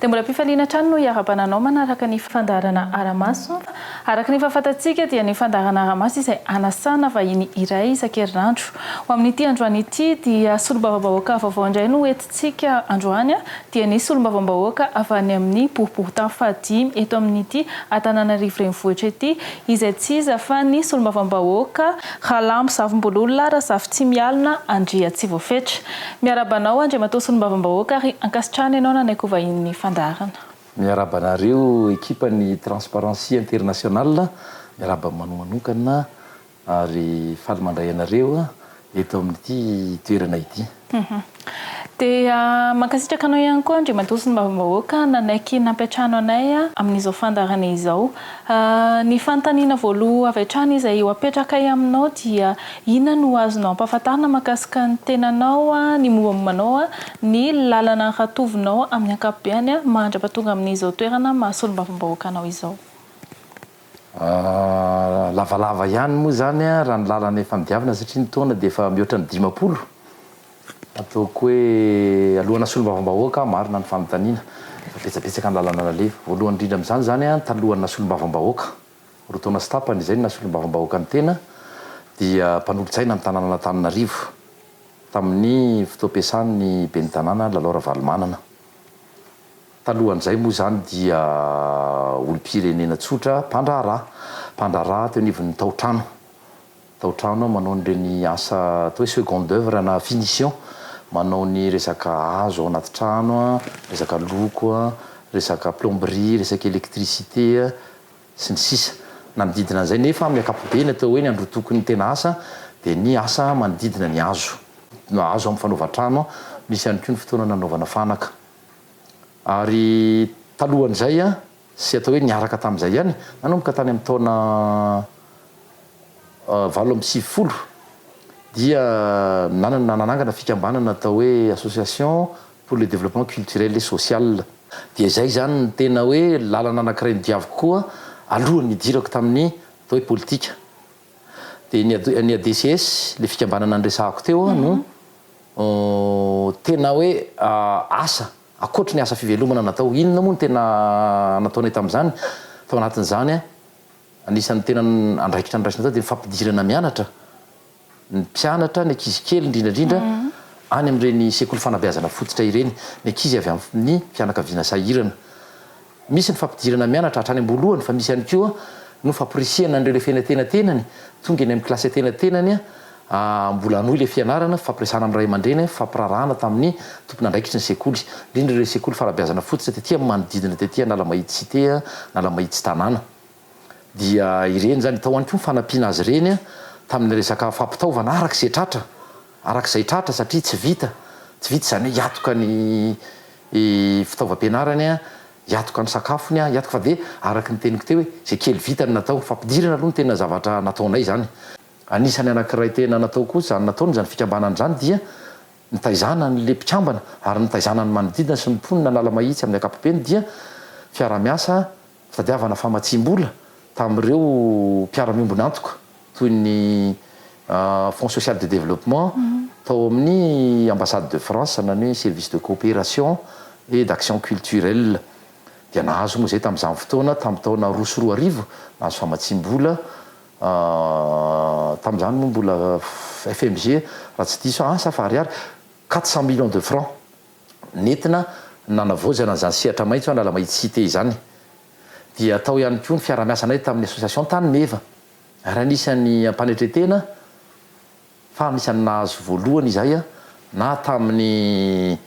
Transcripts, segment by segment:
Dia mbola am-pifaliana hatrany no iarahabana anao manaraka ny fandaharana Aramaso. Araka ny fahafantantsika dia ny fandaharana Aramaso izay anasana vahiny iray isan-kerinandro. Ho amin'ity androany ity dia solombavambahoaka vaovao indray no ho ntsika androany dia nisy solombavambahoaka avy any amin'ny boriborintany fahadimy eto amin'ity Antananarivo renivohitra ity izay tsy iza fa ny solombavambahoaka Ralamozavimbololona Razafintsimialona Andriatsivoafetra. Miarahaba anao Andriamatoa Solombavambahoaka ary ankasitrahana ianao nanaiky ho vahinin'ny fandaharana. Miarahaba anareo ekipan'ny Transparency International, miarahaba manomanonkana Ary faly mandray anareo eto amin'ity toerana ity. Dia mankasitraka anao ihany koa Andriamatoa sy ny Bavambahoaka nanaiky nampiantrano anay amin'izao fandaharana izao. Ny fanontaniana voaloha avy hatrany izay ho apetrakay aminao dia inona no azonao ampahafantarina mahakasika ny tenanao, ny mombamomba anao, ny lalana ratovinao amin'ny ankapobeny mahantra-pahatonga amin'izao toerana maha-Solombavambahoaka anao izao? Lavalava ihany moa izany raha ny lalana efa nidiavana satria ny taona dia efa mihoatra ny dimampolo. Ataoko hoe alohan'ny hasolombavam-bahoaka aho marina ny fanontaniana fa betsabetsaka ny lalana nalefa. Voalohany indrindra amin'izany izany an, talohan'ny nasolombavam-bahoaka, roa taona sy tapany izay no nasolombavam-bahoaka ny tena, dia mpanolotsaina ny tanànan'Antananarivo tamin'ny fotoam-piasan'ny ben'ny tanàna Lalao Ravalomanana. Talohan'izay moa izany dia olom-pirenena tsotra mpandraharaha, mpandraharaha teo anivon'ny tao-trano, tao-trano manao an'ireny asa atao hoe seconde oeuvre na finition, manao ny resaka hazo ao anaty trano, resaka loko, resaka plomberie, resaka électricité sy ny sisa Nanodidina an'izay nefa amin'ny ankapobeny atao hoe ny androtoky ny tena asa dia ny asa manodidina ny hazo, hazo amin'ny fanaovan-trano, misy ihany koa ny fotoana nanaovana fanaka. Ary talohan'izay, sy atao hoe niaraka tamin'izay ihany, nanomboka tany amin'ny taona valo amby sivifolo, dia nanana, nanangana fikambanana atao hoe Association pour le développement culturel et social. Dia izay izany no tena hoe lalana anankiray nodiaviko koa alohan'ny nidirako tamin'ny atao hoe politika. Dia ny ny ADCS, ilay fikambanana niresahako teo, no Humm tena hoe asa, ankoatry ny asa fivelomana natao, inona moa no tena nataonay tamin'izany? Tao anatin'izany, anisan'ny tena andraikitra noraisina tao dia ny fampidirana mianatra ny mpianatra, ny ankizy kely indrindra indrindra, any amin'ireny sekoly fanabeazana fototra ireny, ny ankizy avy amin'ny fianakaviana sahirana. Misy ny fampidirana mianatra hatrany am-boalohany fa misy ihany koa no famporisihana an'ireo lefena an-tenatenany tonga eny amin'ny kilasy an-tenatenany mbola hanohy ilay fianarana, fifampiresahana amin'ny ray aman-dreny, fifampiraharahana tamin'ny tompon'andraikitry ny sekoly, indrindra ireo sekoly fara-beazana fototra tety amin'ny manodidina tety Analamahitsy Cité, Analamahitsy Tanàna. dia ireny izany, tao ihany koa ny fanampiana azy ireny tamin'ny resaka fampitaovana araka izay tratra, araka izay tratra satria tsy vita, tsy vita izany hoe hiatoka ny fitaovam-pianarany, hiatoka ny sakafony, hiatoka, fa dia araka ny teniko teo hoe izay kely vita no natao, fampidirana aloha no tena zavatra nataonay izany. Anisan'ny anankiray tena natao koa izany nataony izany fikambanana izany dia nitaizana an'ilay mpikambana ary nitaizana ny manodidina sy ny mponin'Analamahitsy amin'ny ankapobeny dia fiaraha-miasa, Tadiavana famatsiam-bola tamin'ireo mpiara-miombon'antoka toy ny Fonds Social de Développement tao amin'ny Ambassade de France sanany hoe Service de Coopération et d'Action Culturelle dia nahazo moa izay tamin'izany fotoana tamin'ny taona roa sy roa arivo nahazo famatsiam-bola tamin'izany moa mbola FMG raha tsy diso aho asa fa ariary quatre cent millions de francs Nentina nanavaozana an'izany sehatra maitso Analamahitsysite izany. Dia tao ihany koa ny fiarahamiasanay tamin'ny Association Tany Meva, ary anisan'ny ampanetren-tena fa anisan'ny nahazo voalohany izahay na tamin'ny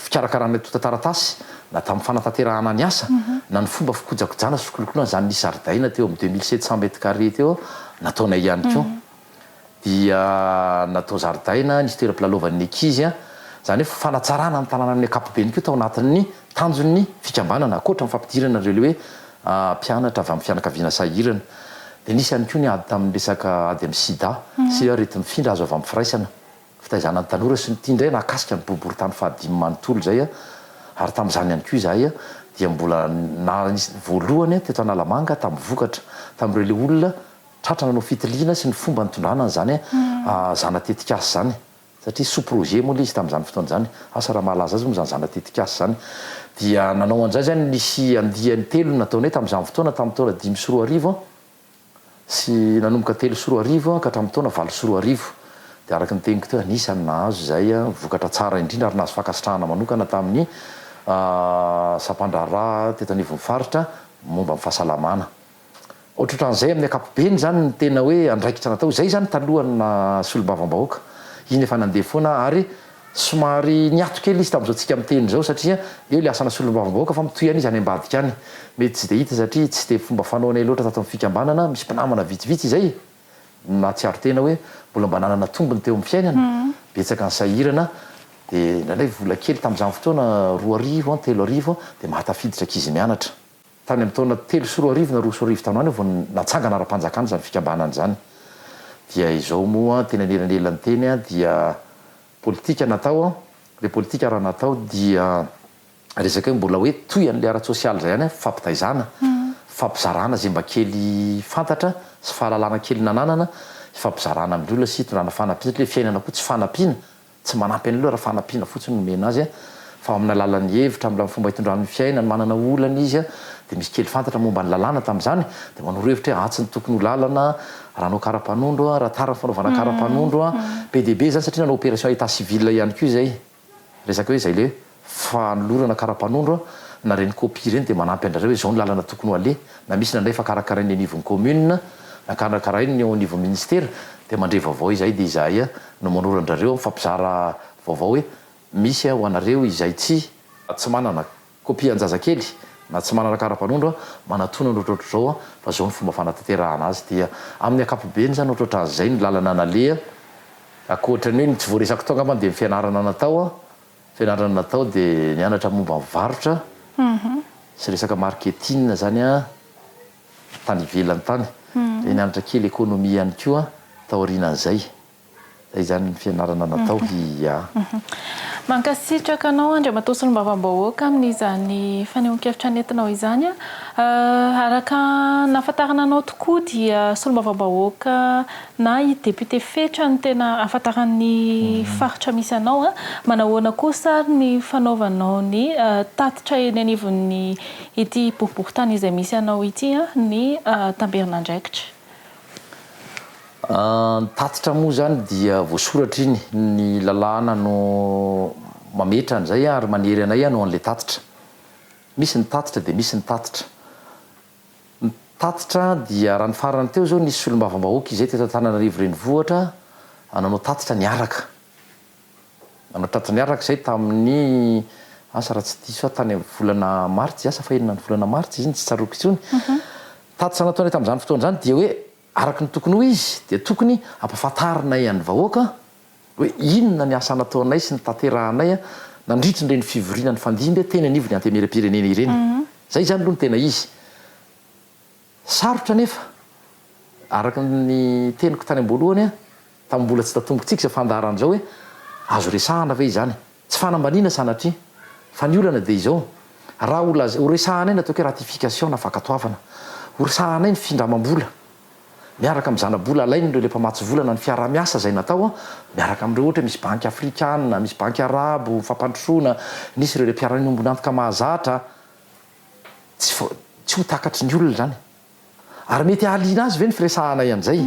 fikarakarana antontan-taratasy na tamin'ny fanatanterahana ny asa na ny fomba fikojakojana sy fikolokoloana izany ny zaridaina teo amin'ny deux mille sept cents mètres carrés teo nataonay ihany koa. dia natao zaridaina, nisy toeram-pilalaovan'ny ankizy, izany hoe fanatsarana ny tanàna amin'ny ankapobeny koa tao anatin'ny tanjon'ny fikambanana, ankoatra ny fampidirana ireo hoe mpianatra avy amin'ny fianakaviana sahirana. Dia nisy ihany koa ny ady tamin'ny resaka ady amin'ny sida sy areti-mifindra azo avy amin'ny firaisana, fitaizana ny tanora sy ny ity indray nahakasika ny boriborintany fahadimy manontolo izay ary tamin'izany ihany koa izahay dia mbola nanisy voalohany teto Analamanga tamin'ny vokatra tamin'ireo ilay olona Tratra nanao fitiliana sy ny fomba nitondrana an'izany zana tetikasa izany, satria sous projet moa ilay izy tamin'izany fotoana izany, asa raha mahalaza azy moa izany zana tetikasa izany. Dia nanao an'izay izany, nisy andiany telo no nataonay tamin'izany fotoana, tamin'ny taona dimy sy roa arivo sy nanomboka telo sy roa arivo ka hatramin'ny taona valo sy roa arivo. Dia araka ny teniko teo, anisan'ny nahazo izay vokatra tsara indrindra ary nahazo fankasitrahana manokana tamin'ny sampandraharaha teto anivon'ny faritra momba ny fahasalamana. Ohatrohatran'izay amin'ny ankapobeny izany ny tena hoe andraikitra natao. Izay izany talohan'ny naha solombavambahoaka. Iny efa nandeha foana ary somary niato kely izy tamin'izao tsika miteny izao satria eo ilay asana solombavambahoaka fa mitohy ihany izy any ambadika any. Mety tsy dia hita satria tsy dia fomba fanaonay loatra tato amin'ny fikambanana, misy mpinamana vitsivitsy izay nahatsiaro tena hoe mbola mba nanana tombony teo amin'ny fiainana, betsaka ny sahirana dia indraindray vola kely tamin'izany fotoana roa arivo an, telo arivo an dia mahatafiditra ankizy mianatra. Tany amin'ny taona telo sy roa arivo na roa sy roa arivo tany ho any aho vao natsangana ara-panjakana izany fikambanana izany. Dia izao moa teny anelanelan'ny teny dia politika natao, ilay politika raha natao dia resaka hoe mbola hoe toy an'ilay ara-tsosialy izay ihany, fifampitaizana, fifampizarana izay mba kely fantatra sy fahalalana kely nananana, hifampizarana amin'ny olona sy hitondrana fanampiana satria ilay fiainana koa tsy fanampiana. Tsy manampy an'io aloha raha fanampiana fotsiny no omena azy fa ao amin'ny alalan'ny hevitra, amin'ny fomba itondrany ny fiainany, manana olana izy dia misy kely fantatra momba ny lalàna tamin'izany dia manoro hevitra hoe atsy no tokony ho lalana raha hanao karapanondro, raha tara ny fanaovana karapanondro, be dia be izany satria nanao opération état civil ihany koa izay, resaka hoe izay ilay hoe. fanolorana karapanondro na reny copie reny dia manampy andrareo hoe zao ny lalana tokony ho aleha na misy nandray efa karakarain'ny anivon'ny commune na karakarain'ny eo anivon'ny ministera dia mandre vaovao izahay dia izahay no manoro andrareo mifampizara vaovao hoe misy ho anareo izay tsy tsy manana copie anjazakely na tsy manana karapanondro manatona ny ohatrohatr'izao fa zao ny fomba fanatanterahana azy dia amin'ny akapobeny zany ohatrohatran'izay ny lalana naleha akoatran'ny hoe ny tsy voaresako tao angambany dia ny fianarana natao Fianarana natao dia nianatra momba ny varotra sy resaka marketing zany a tany ivelany tany dia nianatra kely économie ihany koa taorianan'izay. Zay zany ny fianarana natao ia. Mankasitraka anao Andriamatoa Solombavambahoaka amin'izany fanehoan-kevitra nentinao izany. Araka ny nahafantarana anao tokoa dia Solombavambahoaka Na i député Fetra no tena ahafantaran'ny faritra misy anao an! Manahoana kosa ary ny fanaovanao ny tatitra eny anivon'ny ity boriborintany izay misy anao ity an! Ny tamberin'andraikitra. Ny tatitra moa izany dia voasoratra iny, ny lalàna no mametra an'izay ary manery anay hanao an'ilay tatitra. Misy ny tatitra dia misy ny tatitra. Ny tatitra dia raha ny farany teo izao nisy solombavambahoaka izay teto Antananarivo renivohitra nanao tatitra niaraka, nanao tatitra niaraka izay tamin'ny asa raha tsy diso aho tany amin'ny volana martsy asa fa enina ny volana martsy izy iny tsy tsaroako intsony, tatitra nataonay tamin'izany fotoana izany dia hoe. Araka ny tokony ho izy dia tokony hampafantarinay an'ny vahoaka hoe inona ny asa nataonay sy notanterahanay nandritra ireny fivoriana nifandimby teny anivon'ny Antenimierampirenena ireny. Izay izany aloha no tena izy. Sarotra anefa, araka ny teniko tany am-boalohany, tamin'ny mbola tsy tatombokintsika izao fandaharan'izao hoe azo resahana ve izany? Tsy fanambaniana sanatria, fa ny olana dia izao, raha ho laza, ho resahanay ny ataoko hoe ratification na fankatoavana, ho resahanay ny findramam-bola miaraka amin'ny zana-bola alain'ireo ilay mpamatsy vola na ny fiaraha-miasa izay natao miaraka amin'ireo ohatra hoe misy banky afrikana, misy banky arabo, fampandrosoana, nisy ireo ilay mpiara-miombon'antoka mahazatra, tsy vao, tsy ho takatry ny olona izany. Ary mety hahaliana azy ve ny firesahanay an'izay?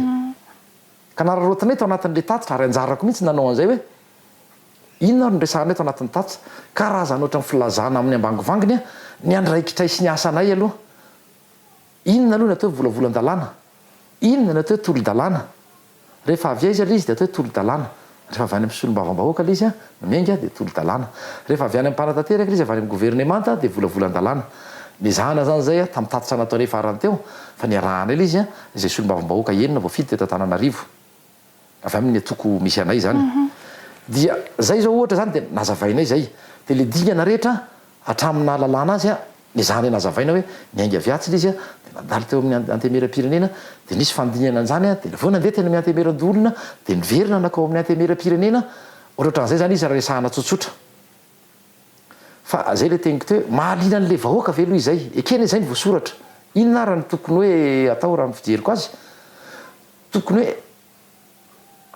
Ka nararaotinay tao anatin'ilay tatitra, ary anjarako mihitsy ny nanao an'izay hoe, Inona ary no resahana eto anatin'ny tatz? Karazana ohatran'ny filazana amin'ny ambangovangony a! Ny andraikitray sy ny asanay aloha. Inona aloha ny atao hoe volavolan-dalàna? Inona ny atao hoe tolodalàna? Rehefa avy aiza ilay izy dia atao hoe tolodalàna? Rehefa avy any amin'ny solombavambahoaka ilay izy a, no miainga dia tolodalàna. Rehefa avy any amin'ny mpanatanteraka ilay izy, avy any amin'ny governemanta dia volavolan-dalàna. Nezahana izany izay a, tamin'ny tatitra nataonay farany teo, fa niarahana ilay izy a, izay solombavambahoaka enina voafidy teto Antananarivo. avy aminy atoko misy anay izany dia zay zao ohatra zany dia nazavainay zay dia le dingana rehetra hatramin'ny nahalalana azy le zany nazavaina hoe miainga avy atsy le izy dia nandalo teo amin'ny antemeram-pirenena dia nisy fandinana an'izany dia vao nandeha teny amin'ny antemeran-doholona dia niverina nakao amin'ny antemeram-pirenena ohatraohatran'izay zany izy raha resahana tsotsotra fa zay le teniko teo mahaliana an'le vahoaka ve aloha izay ekena izay ny voasoratra inona ary ny tokony hoe atao raha ny fijeriko azy Tokony hoe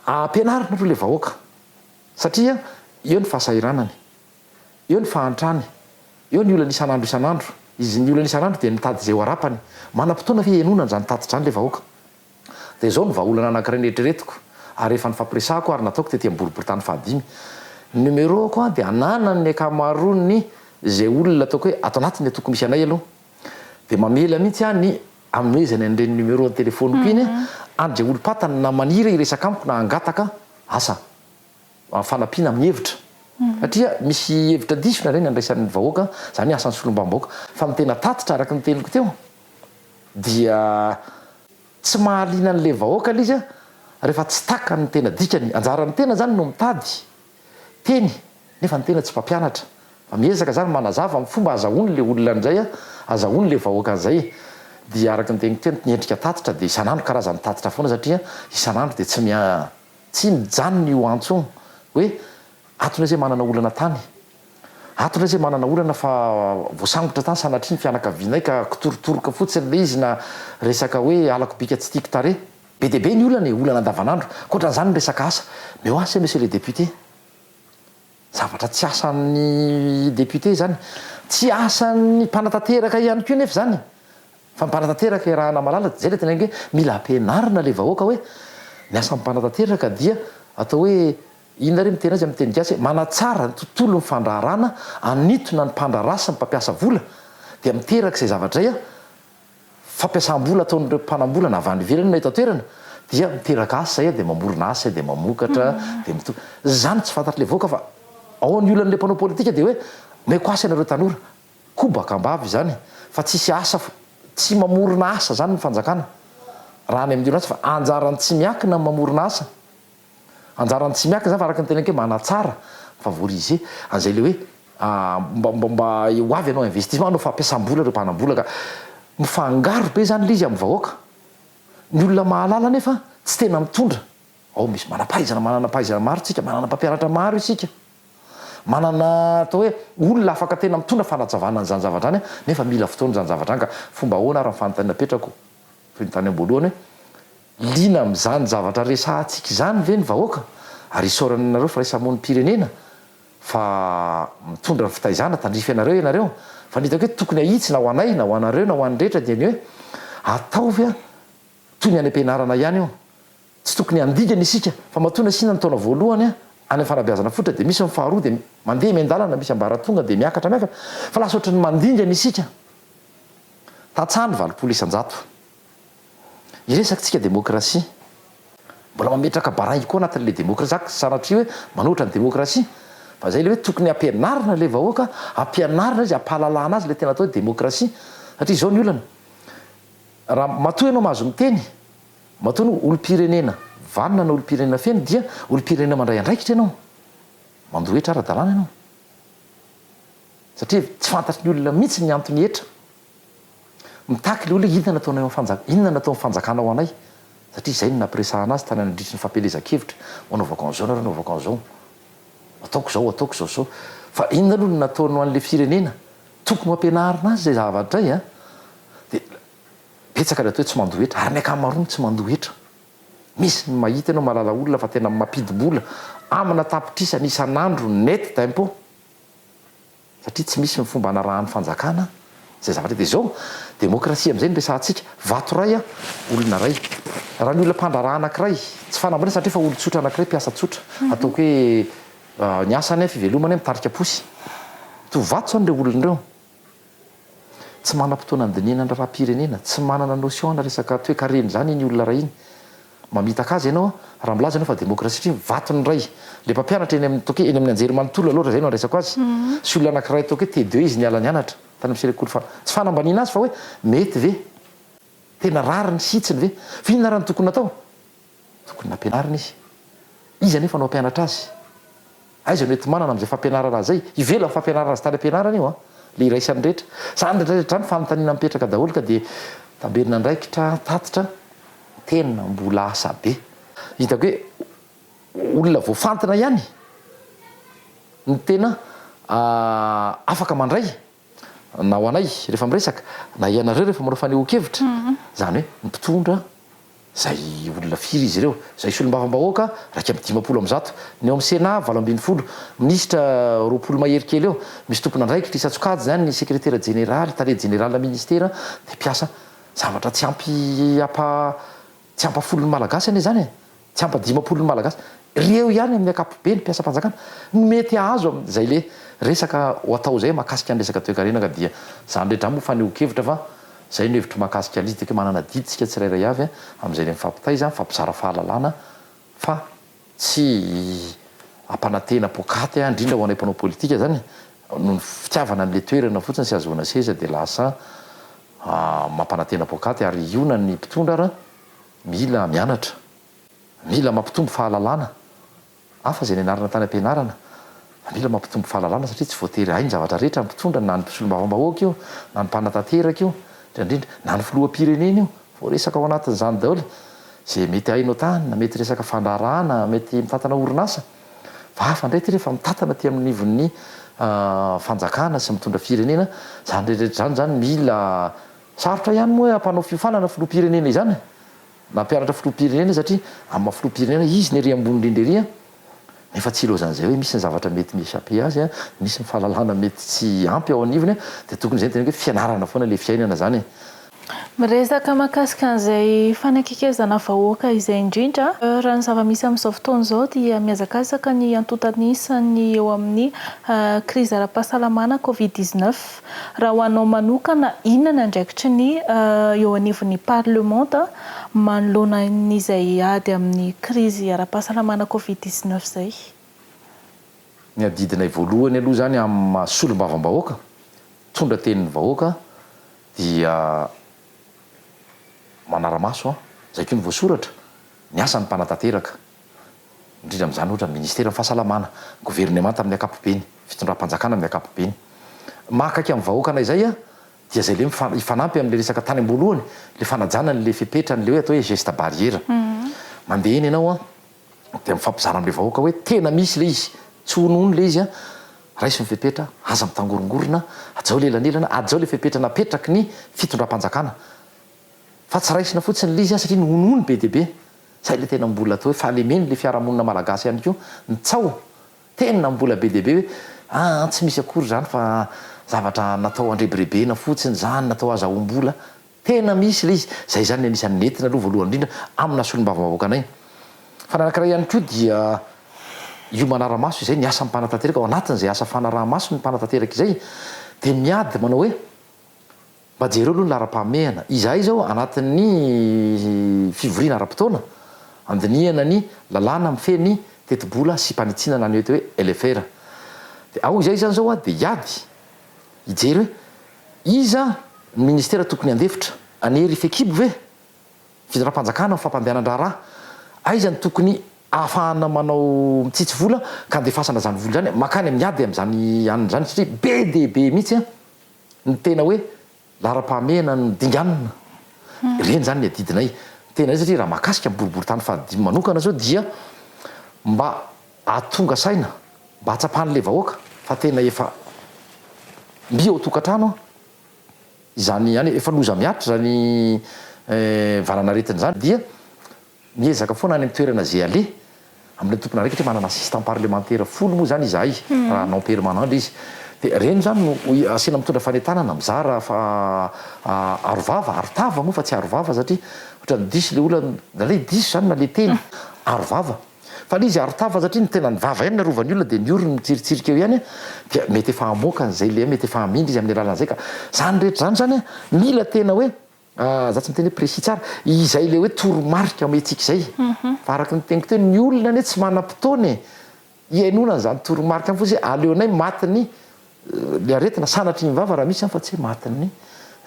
ampianarina aloha ilay vahoaka satria eo ny fahasahiranany, eo ny fahantrany, eo ny olany isan'andro isan'andro, izy ny olany isan'andro dia mitady izay ho arapany, manam-potoana ve hihainoana an'izany tatitra izany ilay vahoaka? Dia izao no vahaolana anankiray neritreretiko ary efa nifampiresahako ary nataoko tety amin'ny boriboritany fahadimy, ny numéro-ko an dia ananan'ny ankamaroan'ny izay olona ataoko hoe ato anatiny tokony misy anay aloha dia mamela mihitsy aho ny Amnoezany any ireny numéro ny telefoniko iny any dia olom-patany na maniry hiresaka amiko na hangataka asa fanampiana amin'ny hevitra satria misy hevitra diso nareo ny andraisan'ny vahoaka izany hoe asan'ny solombambahoaka fa ny tena tatitra araka ny teniko teo dia tsy mahaliana an'ilay vahoaka ilay izy rehefa tsy takany ny tena dikany anjaran'ny tena izany no mitady teny nefa ny tena tsy mpampianatra fa miezaka zany manazava ny fomba azahoany le olona ndray a azahoany le vahoaka anzay e dia araky ny teniko teny ny endrika tatitra dia isan'andro karazany tatitra foana satria isan'andro dia tsy mia tsy mijanona io antso io hoe ato ndray zay manana olana tany ato ndray zay manana olana fa voasambotra tany sanatria ny fianakavianay ka kitorotoroka fotsiny le izy na resaka hoe halako bika tsy tiako tarehy Be dia be ny olana e, olana andavanandro. Ankoatran'izany ny resaka asa. Mais où en c'est monsieur le député? Zavatra tsy asan'ny député izany. Tsy asan'ny mpanatanteraka ihany koa nefa izany e. Fa ny mpanatanteraka iarahana malalaka, izay ilay teneniko hoe mila ampianarina ilay vahoaka hoe ny asan'ny mpanatanteraka dia atao hoe, inona re miteny azy amin'ny teny gasy hoe manatsara ny tontolon'ny fandraharana, hanintona ny mpandraharaha sy ny mpampiasa vola, dia miteraka izay zavatra izay an, fampiasam-bola ataon'ireo mpanam-bolana avy any ivelany na eto an-toerana dia miteraka asa izay dia mamorona asa izay dia mamokatra dia mito- izany tsy fantatr'ilay vahoaka fa ao amin'ny olan'ilay mpanao politika dia hoe omeko asa ianareo tanora kobaka am-bava izany fa tsisy asa fo- tsy mamorona asa izany ny fanjakana raha any amin'ny olan'asa fa anjaran'ny tsy miankina ny mamorona asa Anjaran'ny Tsimiaka zany fa araka ny teneniko hoe manatsara, mi-favoriser, an'izay le hoe mba mba mba ho avy hanao investissement, hanao fampiasam-bola ireo mpanam-bola ka mifangaro be zany le izy amin'ny vahoaka. Ny olona mahalala nefa tsy tena mitondra. Ao misy manam-pahaizana, manana pahaizana maro isika, manana mpampianatra maro isika, manana atao hoe olona afaka tena mitondra fanazavana an'izany zavatra zany nefa mila fotoana izany zavatra zany ka fomba ahoana ary ny fanontaniana apetrako toy ny tany am-boalohany hoe, Liana amin'izany zavatra resahantsika izany ve ny vahoaka? Ary isaorana anareo firaisamonim-pirenena fa mitondra ny fitaizana, tandrify anareo ianareo. Fa ny hitako eto tokony ahitsy na ho anay na ho anareo na ho an'ny rehetra dia ny hoe ataovy toy ny any am-pianarana ihany io. Tsy tokony handigana isika fa matoa nasiana ny taona voalohany any amin'ny fanabeazana fototra dia misy ny faharoa dia mandeha miandalana misy ambaratonga dia miakatra miakatra fa lasa ohatran'ny mandingana isika. Tantsaha ny valopolo isan-jato. Hiresakintsika demokrasia. Mbola mametraka baringy koa anatin'ilay demokrasia za sanatria hoe manohitra ny demokrasia fa zay le hoe tokony hampianarina le vahoaka hampianarina izy hampahalalana azy le tena atao hoe demokrasia satria zao ny olana raha matoa ianao mahazo miteny matoa anao olompirenena vanona na olompirenena feno dia olompirenena mandray andraikitra ianao mandoa hetra ara-dalàna ianao satria tsy fantatry ny olona mihitsy ny antony hetra Mitaky ilay olona hoe inona no ataonao eo amin'ny fanjakana, inona no ataon'ny fanjakana ho anay, satria izay no nampiresahana azy tany nandritry ny fampielezan-kevitra hoe anaovako an'izao nareo, anaovako an'izao, ataoko izao, ataoko izao sy izao. Fa inona aloha no nataony ho an'ilay firenena? Tokony ho ampianarina azy izay zavatra izay an! Dia betsaka ny atao hoe tsy mandoa hetra, ary ny ankamaroany tsy mandoa hetra. Misy ny mahita ianao mahalala olona fa tena mampidi-bola amina tapitrisany isan'andro net d'impôt. satria tsy misy ny fomba anarahan'ny fanjakana izay zavatra dia izao demokrasia amin'izay no resahantsika, vato iray an, olona iray, raha ny olona mpandraharaha anankiray, tsy fanambarana satria efa olon-tsotra anankiray, mpiasa tsotra, ataoko hoe ny asany an, fivelomany an, mitarika posy, to vato izany ireo olona ireo. Tsy manam-potoana handinihana ny raharaham-pirenena, tsy manana notion ana resaka toekarena izany iny olona iray iny. Mamitaka azy ianao raha milaza ianao fa demokrasia satria vatony iray. Ilay mpampianatra eny amin'ny ataoko hoe eny amin'ny anjery manontolo aloha raha izay no andraisako azy. Sy olona anankiray ataoko hoe T2 izy niala nianatra tany amin'ny sekoly fa tsy fanambaniana azy fa hoe mety ve? Tena rariny, hitsiny ve? Fa inona ary no tokony natao? Tokony nampianarina izy. Iza anefa no hampianatra azy? Aiza no enti-manana amin'izay fampianarana azy izay? Ivelan'ny fampianarana azy tany am-pianarana io an! Ilay iraisan'ny rehetra. Izany indraindray hatrany fanontaniana mipetraka daholo ka dia tamberin'andraikitra, tatitra, tena mbola asa be. Hitako hoe olona voafantina ihany no tena afaka mandray. na ho anay rehefa miresaka, na ianareo rehefa manao fanehoan-kevitra, izany hoe ny mpitondra, izay olona firy izy ireo, izay solombavambahoaka iraika amby dimampolo amin'ny zato, ny ao amin'ny Sénat valo ambin'ny folo, minisitra roapolo mahery kely eo, misy tompon'andraikitra isan-tsokajy izany, ny sekretera jeneraly, tale jeneralina minisitera dia mpiasa zavatra tsy ampy apa. Tsy ampa folo ny Malagasy anie izany e! Tsy ampa dimampolo ny Malagasy. Reo ihany amin'ny akapobe ny mpiasam-panjakana no mety hahazo am zay le resaka ho atao zay mahakasika ny resaka toekarena ka dia zany re dramo fanehoan-kevitra fa zay no hevitro mahakasika aliz de que manana adidy tsika tsirairay avy am zay le mifampitaiza mifampizara fahalalana fa tsy hampanantena poakaty aho indrindra ho anay mpanao politika zany noho ny fitiavana an'le toerana fotsiny sy ahazoana seza dia lasa mampanantena poakaty ary hiona ny mpitondra ara mila mianatra mila mampitombo fahalalana hafa izay nianarana tany am-pianarana Maniraka mampitombo fahalalana satria tsy voatery hahay ny zavatra rehetra ny mpitondra na ny mpisolombavambahoaka io na ny mpanatanteraka io indrindra indrindra na ny filoham-pirenena io voaresaka ao anatin'izany daholo izay mety hainao tany na mety resaka fandraharahana mety mitantana orinasa fa hafa indray ity rehefa mitantana aty amin'ny ivon'ny fanjakana sy mitondra firenena izany rehetra rehetra izany izany mila sarotra ihany moa hoe hampanao fiofanana filoham-pirenena izany e! Nampianatra filoham-pirenena izy satria amin'ny maha filoham-pirenena izy ny ery ambony indrindra ery an! nefa tsy ilaozan'izay hoe misy ny zavatra mety mi echapper azy an! misy ny fahalalana mety tsy ampy ao anivony an! dia tokony izay no tena hoe fianarana foana ilay fiainana izany e! Miresaka mahakasika an'izay fanakaikezana vahoaka izay indrindra raha ny zava-misy amin'izao fotoana izao dia mihazakazaka ny antontan'isa ny eo amin'ny krizy ara-pahasalamana covid dix-neuf. Raha ho anao manokana, inona ny andraikitry ny eo anivon'ny parlemanta manoloana izay ady amin'ny krizy ara-pahasalamana covid dix neuf izay? Ny adidinay voalohany aloha izany amin'ny maha solombavambahoaka, mpitondra tenin'ny vahoaka dia manara-maso izay koa ny voasoratra, ny asan'ny mpanatanteraka. indrindra amin'izany ohatra ny ministeran'ny fahasalamana, governemanta amin'ny ankapobeny, fitondram-panjakana amin'ny ankapobeny. Maha akaiky amin'ny vahoaka anay izay dia izay ilay hifanampy amin'ilay resaka tany am-boalohany, ilay fanajana an'ilay fepetra, an'ilay hoe atao hoe geste barrière. Mandeha eny ianao dia mifampizara amin'ilay vahoaka hoe tena misy ilay izy, tsy ho nono ilay izy, raiso ny fepetra, aza mitangorongorona, hajao lela anilana, hajao ilay fepetra napetraky ny fitondram-panjakana. Fa tsy raisina fotsiny ilay izy satria nohonohono be dia be. Izay ilay tena mbola atao hoe fahalemeny ilay fiarahamonina malagasy ihany koa ny tsaho. Tena mbola be dia be hoe aa tsy misy akory izany fa zavatra natao handrebirebena fotsiny izany, natao hazahoam-bola. Tena misy ilay izy. Izay izany no anisan'ny nentina aloha voalohany indrindra amina solombavambahoakanay. Fa ny anankiray ihany koa dia io manara-maso izay ny asan'ny mpanatanteraka ao anatin'izay asa fanaraha-maso ny mpanatanteraka izay dia miady manao hoe, Mba jereo aloha ny laharam-pahamehana. Izahay izao anatin'ny fivoriana ara-potoana, handinihana ny lalàna mifehy ny tetibola sy mpanitsiana na ny eto hoe LFR. Dia ao izahay izany izao dia hiady, hijery hoe iza ny ministera tokony handefitra, any hery fekibo ve, fitondram-panjakana amin'ny fampandehanan-draharaha, aiza no tokony ahafahana manao mitsitsy vola ka handefasana izany vola izany, mankany amin'ny ady amin'izany anona izany satria be dia be mihitsy. Ny tena hoe laharam-pahamehana no dinganina, ireny izany ny adidinay. Ny tena izy satria raha mahakasika ny boriborintany fahadimy manokana izao dia mba ahatonga saina, mba ahatsapan'ilay vahoaka fa tena efa mby ao an-tokantrano izany, efa loza mihatra izany valanaretina izany dia. Miezaka foana any amin'ny toerana izay aleha. Amin'ilay tompon'andraikitra hoe manana assistant parlemantera folo moa izany izahay, raha non permanent-ndry izy. Dia ireny izany no asiana mitondra fanentanana, mizara fa arovava, arotava moa fa tsy arovava satria ohatran'ny diso ilay olona, na ilay diso izany na ilay teny, arovava. Fa ilay izy arotava satria ny tenany vava ihany no arovan'ny olona dia ny orony mitsiritsirika eo ihany dia mety efa hamoaka an'izay ilay mety efa hamindra izy amin'ny alalan'izay ka. Izany rehetra izany izany mila tena hoe Ah, za tsy miteny hoe précis tsara. Izay le hoe toromarika omentsika izay. Fa araka ny teniko teo, ny olona anie tsy manam-potoana e. Hihainoana an'izany toromarika any fotsiny hoe aleonay matin'ny le aretina, sanatria ny vava raha misy an, fa tsy hoe matin'ny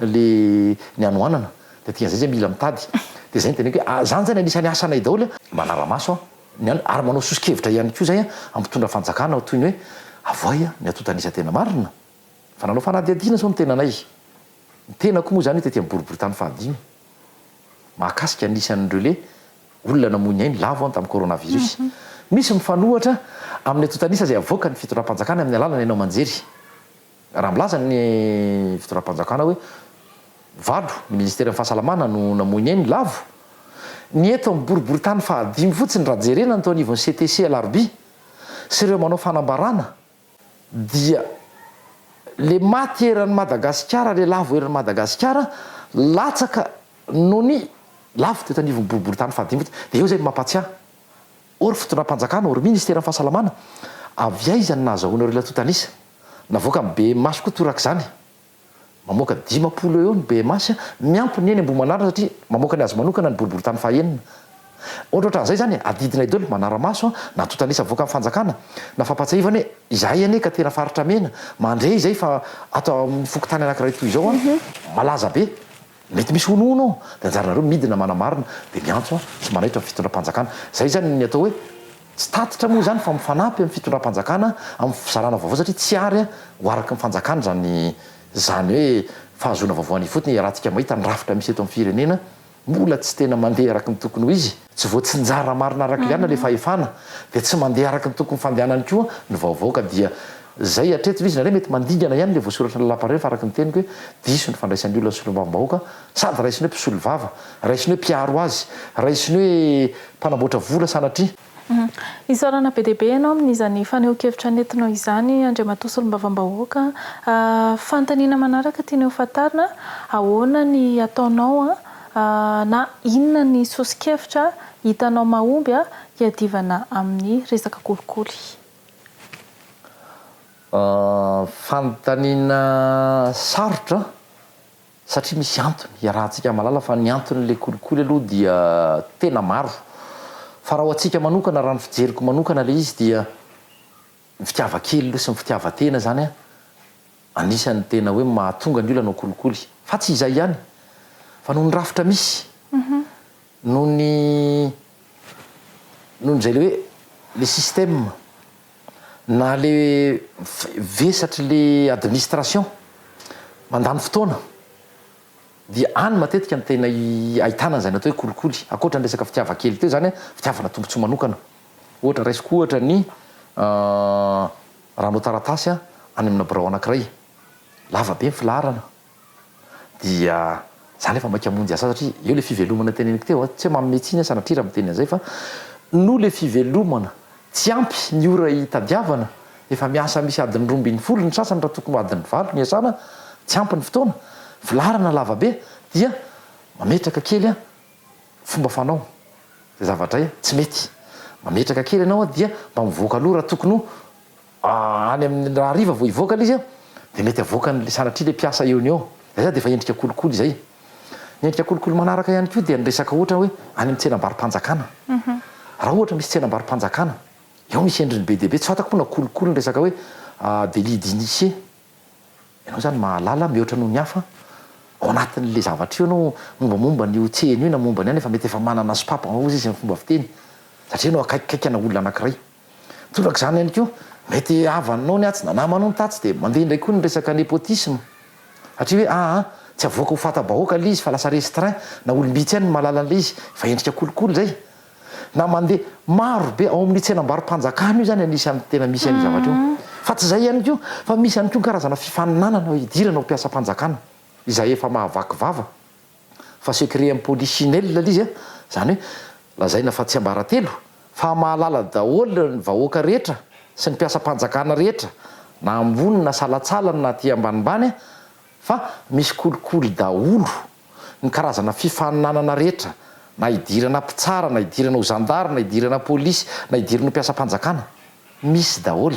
le ny hanoanana. De dikan'izay zay mila mitady. De zay ny teneniko hoe, ah, zany zany anisan'ny asanay daholo an. Manara-maso an, ny an, ary manao soso-kevitra ihany koa zay an, hampitondra fanjakana ho toy ny hoe avoay an, ny atontan'isa tena marina. Fa nanao fanadihadiana izao ny tenanay. Ny tenako moa izany tety amin'ny boriboritany fahadimy, mahakasika ny isan'ny relais, olona namoy ny ainy, lavo an, tamin'ny coronavirus. Misy mifanohitra amin'ny antontan'isa izay avoakan'ny fitondram-panjakana amin'ny alalan'ny haino aman-jery. Raha milaza ny fitondram-panjakana hoe valo ny ministeran'ny fahasalamana no namoy ny ainy, lavo. Ny eto amin'ny boriboritany fahadimy fotsiny raha jerena ny teo anivon'ny CTC alarobia sy ireo manao fanambarana, dia le maty eran'i Madagasikara le lavo eran'i Madagasikara latsaka nony lavo teto anivon'ny boriboritany fahadimby teto dia eo izay no mampatsiahy ô ry fitondram-panjakana ô ry ministeran'ny fahasalamana avy aiza no nahazahoana ireo latotan'isa navoaka ny bmh koa torak'izany Mamoaka dimampolo eo eo ny BMH, miampy ny eny Ambohimanarina satria mamoaka ny azy manokana ny boriborintany fahaenina. Ohatrohatran'izay izany e, adidinay daholo, manara-maso, na tontanisa avoakan'ny fanjakana, na fampahatsiahivana hoe izahay anie ka tena faritra mena, mandre izay fa ato amin'ny fokontany anankiray toy izao, malaza be. Mety misy honohono ao dia anjaranareo midina manamarina dia miantso sy manaitra ny fitondram-panjakana. Izay izany ny atao hoe tsy tatitra moa izany fa mifanampy amin'ny fitondram-panjakana amin'ny fizarana vaovao satria tsy àry ho araky ny fanjakana izany izany hoe fahazoana vaovao any ifotony. Iarahantsika mahita ny rafitra misy eto amin'ny firenena mbola tsy tena mandeha araky ny tokony ho izy. Tsy voatsinjara marina araka iliana le fahefana dia tsy mandeha araka ny tokony fandehanany koa ny vaovao ka dia Zay hatreto ve izy nareo mety mandingana ihany le voasoratra ny lapareo fa araka ny teniko hoe diso ny fandraisan'ny olona ny solombavambahoaka sady raisiny hoe mpisolo vava raisiny hoe mpiaro azy raisiny hoe mpanamboatra vola sanatria Isaorana be dia be ianao amin'izany fanehoan-kevitra nentinao izany Andriamatoa Solombavambahoaka a! Fanontaniana manaraka tianay ho fantarina, ahoana ny ataonao Ahh na inona ny soso-kevitra hitanao mahomby hiadivana amin'ny resaka kolikoly? Ahh fanontaniana sarotra satria misy antony, iarahantsika mahalala fa ny anton'ilay kolikoly aloha dia tena maro fa raha ho antsika manokana raha ny fijeriko manokana ilay izy dia Ny fitiava kely aloha sy ny fitiavan-tena izany anisan'ny tena hoe mahatonga ny olona hanao kolikoly. Fa tsy izay ihany, fa noho ny rafitra misy, noho ny, noho ny izay ilay hoe ilay système, na ilay vesatr'ilay administration mandany fotoana, dia any matetika no tena ahitana izay natao hoe kolikoly. Ankoatra ny resaka fitiava kely teo izany, fitiavana tombontsoa manokana. Ohatra, raisiko ohatra ny raha hanao taratasy aho any amina birao anankiray, lava be ny filaharana, dia za nefa maika hamonjy ahy satria eo ilay fivelomana teneniko teo, tsy hoe manome tsiny aho sanatria raha miteny an'izay fa noho ilay fivelomana tsy ampy ny ora hitadiavana, efa miasa misy adiny roa ambin'ny folo ny sasany raha tokony ho adiny valo no iasana, tsy ampy ny fotoana, filaharana lava be dia mametraka kely aho. Fomba fanao, zay zava-dray a, tsy mety. Mametraka kely ianao a, dia mba mivoaka aloha raha tokony ho a, any amin'ny raha hariva vao hivoaka ilay izy a, dia mety avoakany le sanatria le mpiasa eo no eo. Zay zany dia efa endrika kolikoly izay. Ny endrika kolikoly manaraka ihany koa dia ny resaka ohatra hoe any amin'ny tsenam-barom-panjakana. Raha ohatra misy tsenam-barom-panjakana, eo misy endriny be dia be, tsy fantako moa na kolikoly ny resaka hoe a, délit d'initié. Ianao zany mahalala mihoatra noho ny hafa ao anatin'le zavatra io ianao mombamomba an'io tsena io na momba ny ahy nefa mety efa manana sopapa avao izy amin'ny fomba fiteny satria ianao akaikikaiky ana olona anakiray. Torak'izany ihany koa mety havanao ny atsy na namanao ny tatsy de mandeha indray koa ny resaka nepotisme satria hoe aa tsy avoaka ho fata-bahoaka le izy fa lasa restreint na olom-bitsy ihany no mahalala an'le izy fa endrika kolikoly zay. na mandeha maro be ao amin'ny tsenam-barom-panjakana io izany anisan'ny tena misy an'io zavatra io. Fa tsy izay ihany koa fa misy ihany koa ny karazana fifaninanana hidirana ho mpiasam-panjakana izay efa mahavaky vava fa secret polichinelle ilay izy an, izany hoe lazaina fa tsiambaratelo fa mahalala daholo ny vahoaka rehetra sy ny mpiasam-panjakana rehetra na ambony na salatsalany na aty ambanimbany an, Fa misy kolikoly daholo ny karazana fifaninanana rehetra, na idirana mpitsara, na idirana ho zandary, na idirana polisy, na idirana ho mpiasam-panjakana. Misy daholo.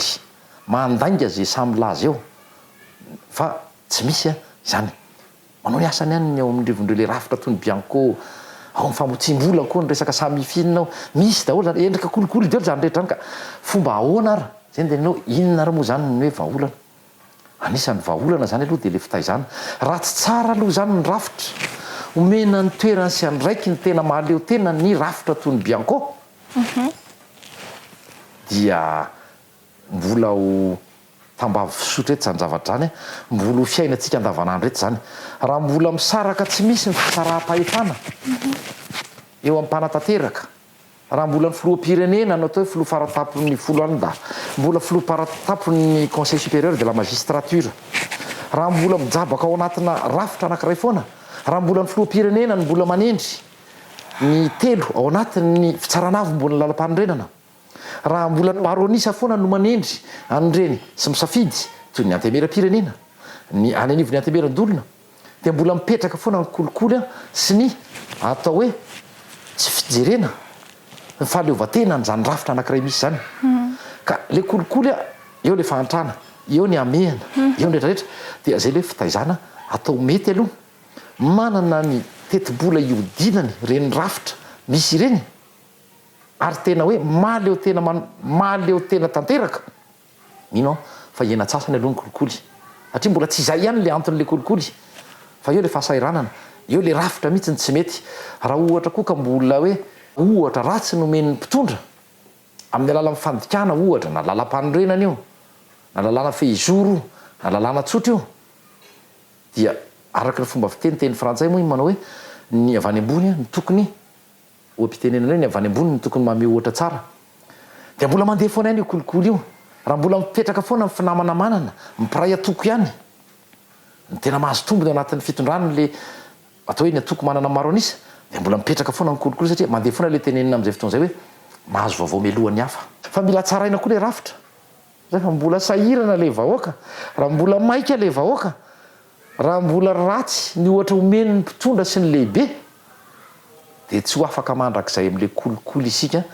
Mandainga izay sahy milaza eo fa tsy misy an, izany. Manao ny asany ihany ny ao amin'ny rivon'ireo ilay rafitra toy ny bianco, ao amin'ny famotsiam-bola koa ny resaka sahy mifinina ao. Misy daholo izany. Endrika kolikoly daholo izany rehetra izany ka. Fomba ahoana ary? Izay no tenenao hoe inona ary moa izany ny hoe vahaolana? Anisan'ny vahaolana izany aloha dia ilay fitaizana. Ratsy tsara aloha izany ny rafitra. Omena ny toerany sy andraiky ny tena mahaleo tena ny rafitra toy ny bianco dia mbola ho tambavy fisotra eto izany zavatra izany a! Mbola ho fiainantsika andavanandro eto izany. Raha mbola misaraka tsy misy ny fisaraham-pahefana eo amin'ny mpanatanteraka. Raha mbola ny filoham-pirenena no atao hoe filoha faratapon'ny folo any da mbola filoha paratapon'ny conseil supérieur de la magistrature. Raha mbola mijabaka ao anatina rafitra anankiray foana, raha mbola ny filoham-pirenena no mbola manendry ny telo ao anatin'ny fitsarana avombon'ny lalampanorenana, raha mbola ny maro an'isa foana no manendry an'ireny sy misafidy toy ny antemeram-pirenena, ny any anivon'ny antemeran-dolona, dia mbola mipetraka foana ny kolikoly sy ny atao hoe tsy fijerena ny fahaleovantena an'izany rafitra anankiray misy izany ka le kolikoly a eo le fahantrana eo ny amehana eo ny retraretra dia zay le fitaizana atao mety aloha manana ny tetibola iodinany reny rafitra misy ireny ary tena hoe mahaleo tena mahaleo tena tanteraka Mino aho fa hiaina antsasany aloha ny kolikoly satria mbola tsy izay ihany ilay anton'ilay kolikoly fa eo ilay fahasahiranana, eo ilay rafitra mihitsy ny tsy mety. Raha ohatra koa ka mbola hoe ohatra ratsy no omen'ny mpitondra amin'ny alalan'ny fandikana ohatra, na lalam-panorenana io, na lalàna fehizoro io, na lalàna tsotra io dia araka ny fomba fiteny teny frantsay moa iny manao hoe ny avy any ambony no tokony Oha-pitenenana hoe ny avy any ambony no tokony mameho ohatra tsara. Dia mbola mandeha foana ihany io kolikoly io, raha mbola mipetraka foana ny finamana manana, mpiray antoko ihany. Ny tena mahazo tombony ao anatin'ny fitondrana ilay atao hoe ny antoko manana maro an'isa, dia mbola mipetraka foana ny kolikoly satria mandeha foana ilay tenenina amin'izay fotoana izay hoe mahazo vaovao mialoha ny hafa. Fa mila tsaraina koa ilay rafitra. Raha mbola sahirana ilay vahoaka, raha mbola maika ilay vahoaka, Raha mbola ratsy ny ohatra omeny ny mpitondra sy ny lehibe dia tsy ho afaka mandrakizay amin'ilay kolikoly isika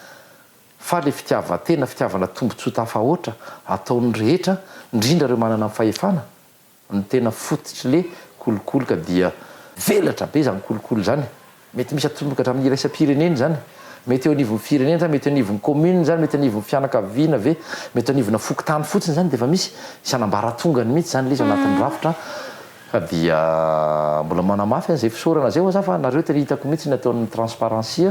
fa ilay fitiavan-tena, fitiavana tombontsoa tafahoatra ataon'ny rehetra indrindra ireo manana ny fahefana no tena fototr'ilay kolikoly ka dia velatra be izany kolikoly izany. Mety misy atomboka hatramin'ny iraisam-pirenena izany? Mety eo anivon'ny firenena sa mety eo anivon'ny commune izany? Mety eo anivon'ny fianakaviana ve? Mety eo anivona fokontany fotsiny izany dia efa misy? Misy an'ambaratongany mihitsy izany ilay izy ao anatin'ny rafitra ka dia mbola manamafy an'izay fisaorana izay ho'a za fa nareo tena hitako mihitsy ny ataon'ny transparency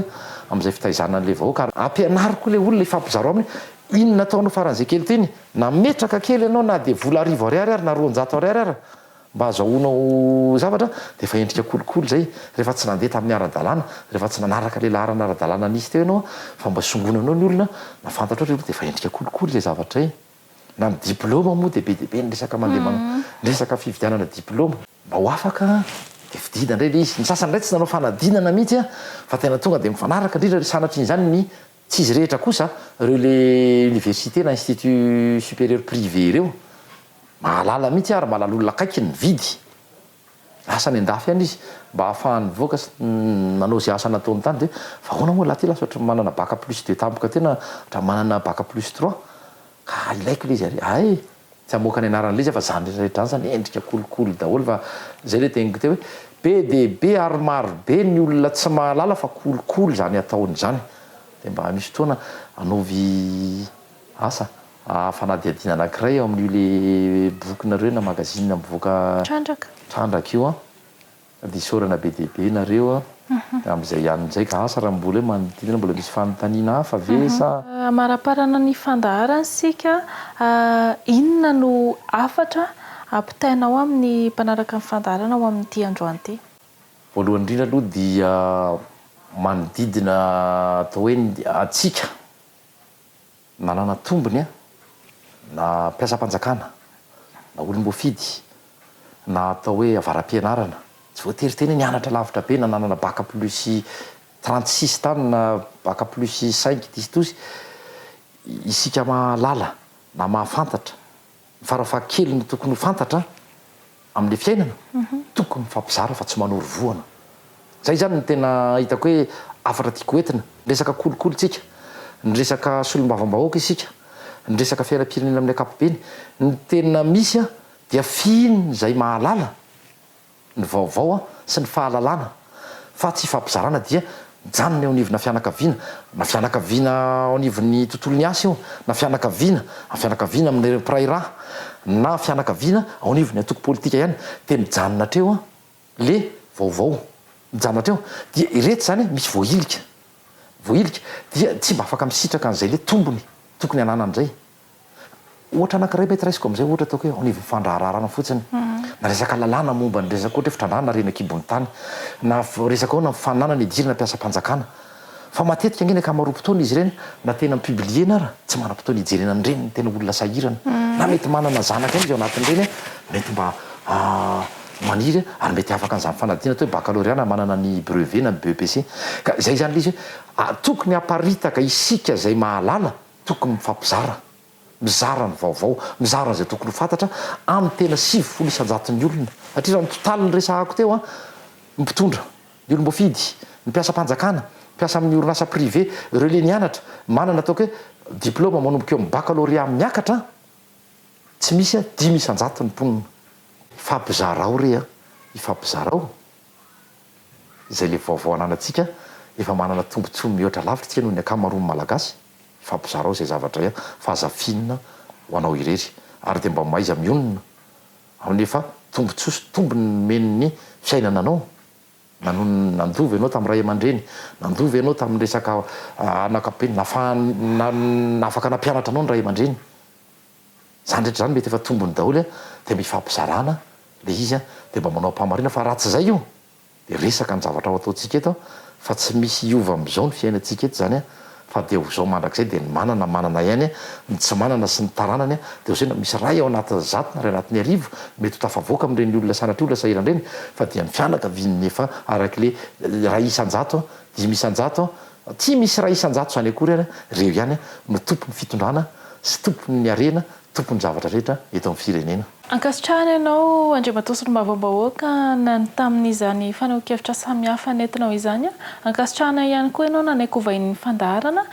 amin'izay fitaizana an'ilay vahoaka ary ampianaro koa ilay olona ifampizarao aminy hoe inona ataonao faran'izay kely toy iny? Nametraka kely ianao na dia vola arivo ariary ary na roanjato ariary ary Mba azahoanao zavatra dia efa endrika kolikoly izay, rehefa tsy nandeha tamin'ny ara-dalàna, rehefa tsy nanaraka ilay laharana ara-dalàna nisy teo ianao, fa mba songonanao ny olona na fantatrao ilay olona dia efa endrika kolikoly ilay zavatra izay. Na ny diplaoma moa dia be dia be ny resaka mandeha man, ny resaka fividianana diplaoma. Mba ho afaka dia fidina indray ilay izy. Ny sasany indray tsy nanao fanadinana mihitsy fa tena tonga dia mifanaraka indrindra, sanatrian'izany ny. Tsy izy rehetra kosa reo le université na institut supérieur privé reo, mahalala mihitsy ary mahalala olona akaiky ny mividy asa any andafy any izy mba hahafahany mivoaka sy manao ze asa nataony tany de fa ahoana moa lahy ty lasa ohatry ny manana bac plus deux tampoka tena ohatry ny manana bac plus trois, Ka ilaiko le izy ary hay e! Tsy hamoaka ny anaran'ilay izy aho fa zany rehetra zany zany endrika kolikoly daholo fa zay le teniko teo hoe be dia be ary maro be ny olona tsy mahalala fa kolikoly izany ataony izany dia mba misy fotoana anaovy asa fanadihadiana anankiray ao amin'io le bokinareo na magazine mivoaka trandraka io an! Dia isaorana be dia be ianareo amin'izay ihany amin'izay ka asa raha mbola hoe manodidina mbola misy fanontaniana hafa ve sa. Amaraparana ny fandaharana isika, inona no hafatra ampitainao amin'ny mpanaraka ny fandaharana ho amin'ity androany ity? Voalohany indrindra aloha dia manodidina atao hoe antsika. Nanana tombony an! Na mpiasam-panjakana, na olom-boafidy, na atao hoe avara-pianarana, tsy voatery tena hoe nianatra lavitra be na nanana bac plus trente six tany na bac plus cinq itisitosy isika mahalala na mahafantatra. Ny farafahakeliny tokony ho fantatra amin'ny fiainana, tokony mifampizara fa tsy manoro vohana. Izay izany no tena hitako hoe hafatra tiako hoentina. Niresaka kolikoly isika, niresaka solombavambahoaka isika, niresaka fiainam-pirenena amin'ny ankapobeny. Ny tena misy dia f'iny izay mahalala. ny vaovao sy ny fahalalana fa tsy ifampizarana dia mijanona eo anivona fianakaviana na fianakaviana ao anivon'ny tontolon'ny asa io na fianakaviana na fianakaviana amin'ireo mpiray rà na fianakaviana ao anivon'ny antoko politika ihany dia mijanona hatreo le vaovao mijanona hatreo dia iretsy izany misy voahilika voahilika dia tsy mba afaka misitraka an'izay le tombony tokony hananany izay. Ohatra anankiray mety raisiko amin'izay ohatra ataoko hoe ao anivon'ny fandraharahana fotsiny na resaka lalàna momba ny resaka ohatra hoe fitrandrahana re eny an-kibon'ny tany na resaka ahoana ny fananana hidirana mpiasam-panjakana fa matetika ange ny ankamaroam-potoana izy ireny na tena mi-publier-na ara tsy manam-potoana hijerena ny reniny tena olona sahirana na mety manana zanaka ihany izy ao anatin'ireny hoe mety mba maniry ary mety afaka an'izany fanadinana atao hoe baccalauréat na manana ny brevet na ny BEPC ka izay izany ilay izy hoe tokony haparitaka isika izay mahalala Tokony mifampizara, mizara ny vaovao, mizara izay tokony ho fantatra amin'ny tena sivifolo isan-jaton'ny olona. Satria raha ny totaly niresahako teo, ny mpitondra, ny olom-boafidy, ny mpiasam-panjakana, mpiasa amin'ny orinasa privé, ireo le nianatra, manana ataoko hoe diplaoma manomboka eo amin'ny baccalauréat miakatra, tsy misy dimy isan-jaton'ny mponina. Ifampizarao re an! Ifampizarao! Izay le vaovao ananantsika efa manana tombotsoa mihoatra lavitra isika noho ny ankamaroan'ny Malagasy, ifampizarao izay zavatra izay fa aza finina ho anao irery ary dia mba mahaiza mionona amin'ny efa tombotsoa sy tombony nomen'ny fiainana anao, nanonona nandoa ve ianao tamin'ny ray aman-dreny, nandoa ve ianao tamin'ny resaka anakabe, nafahany na afaka nampianatra anao ny ray aman-dreny. Zany rehetra zany mety efa tombony daholo a, de mifampizarana le izy a, de mba manao am-pahamariana fa raha tsy zay io de resaka ny zavatra ao ataontsika eto fa tsy misy hiova am'zao ny fiainantsika eto zany a, fa de ho zao mandrakizay de ny manana manana ihany a, ny tsy manana sy ny taranany a, de ho zay na misy ray ao anatin'ny zato na ray anatin'ny arivo mety ho tafavoaka amin'ireny olona sanatria olona sahirana ireny fa dia ny fianakaviany efa arak'le ray isan-jato Dimy isan-jato, tsy misy iray isan-jato izany akory ary, ireo ihany no tompon'ny fitondrana sy tompon'ny harena, tompon'ny zavatra rehetra eto amin'ny firenena. Ankasitrahana ianao Andriamatoa Solombavambahoaka na ny tamin'izany fanehoan-kevitra samihafa nentinao izany. Ankasitrahana ihany koa ianao nanaiky hovain'ny fandaharana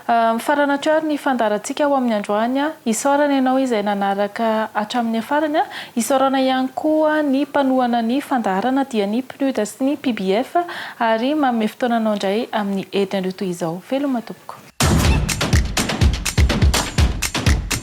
Mifarana hatreo ary ny fandaharantsika ho amin'ny androany. Isaorana ianao izay nanaraka hatramin'ny farany. Isaorana ihany koa ny mpanohana ny fandaharana dia ny PNUD sy ny PBF ary manome fotoananao indray amin'ny herinandro toy izao. Veloma tompoko.